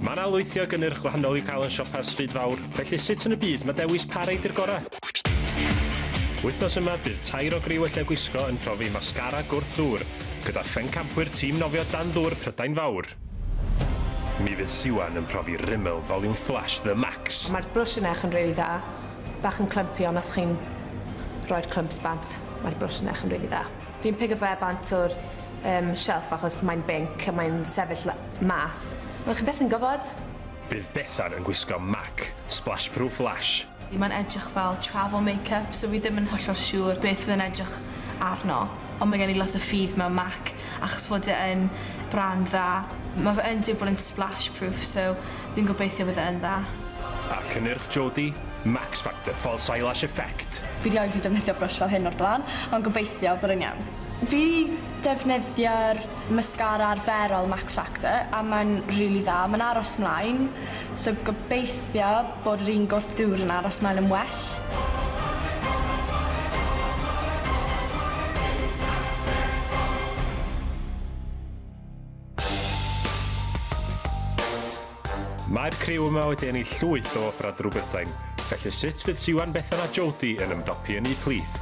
Mae 'na lwythi o gynnyrch gwahanol i'w cael yn siopa'r Stryd Fawr, felly sut yn y byd mae dewis pa reid yw'r gorau? Wythnos yma, bydd tair o griw y Lle Gwisgo yn profi mascara gwrth ddŵr, gyda phencampwyr tîm nofio dan ddŵr Prydain Fawr. Mi fydd Siwan yn profi Rimmel Volume Flash The Max. Mae'r brwsh yn eich yn rili dda. Bach yn clumpy ond os chi'n rhoi'r clumps bant, mae'r brwsh yn eich yn rili dda. Fi'n pigo fe bant o'r yym shelf achos mae'n binc a mae'n sefyll la- mas. Wel chi byth yn gwbod. Bydd Bethan yn gwisgo mac splashproof lash. Mae'n edrych fel travel makeup so fi ddim yn hollol siŵr beth fydd yn edrych arno ond mae gen i lot o ffydd mewn mac achos fod e yn brand dda. Ma' fe yn dweud bod e'n splashproof so Fi'n gobeithio bydd e yn dda. A cynnyrch Jodie? Max Factor False Eyelash Effect! Fi rioed di defnyddio brush fel hyn o'r blaen, ond gobeithio bod e'n iawn. Fi di defnyddio'r mascara arferol Max Factor a mae'n rili dda. Mae'n aros mlaen, so gobeithio bod yr un gwrth dŵr yn aros mlaen yn well. Mae'r criw yma wedi ennill llwyth o Opera Drwg Brydain, felly sut fydd Siwan, Bethan a Jodie yn ymdopi yn eu plith?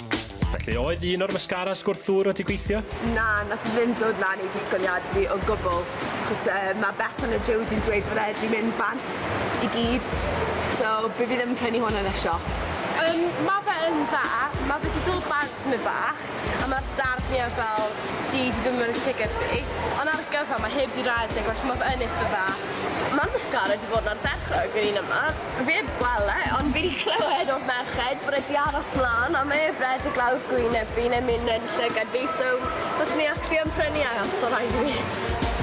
Felly, oedd un o'r mascara sgwrthwr wedi gweithio? Na, nath ddim dod lan i disgwyliad fi o gwbl. Chos uh, mae Bethan a Jody'n dweud bod e wedi mynd bant i gyd. So, by fi ddim yn prynu hwn yn y siop. Um, mae fe yn dda, mae fe wedi dod bant mynd bach, a mae'r darniau fel di wedi dod mewn llygad fi. Ond ar y gyfa, mae heb di redeg, felly mae fe yn eitha dda. Mae'r mascara wedi bod yn ardderchog yn un yma. Fi heb weld e ond fi 'di clywed o'r merched bod e 'di aros mlan a mae e bred y glawdd gwyneb fi neu myn yn llygad fi so fyswn i actually yn prynu e os o raid i mi.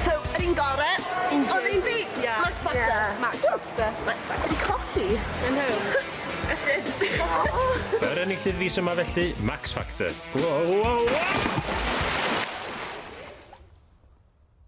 So yr un gore? Un jig. Odd un fi? Ie. Max Factor? Ie. Max Factor. Max Factor. Fi'n colli. I know. Yr enillydd fis yma felly, Max Factor. Wow, wow, wow!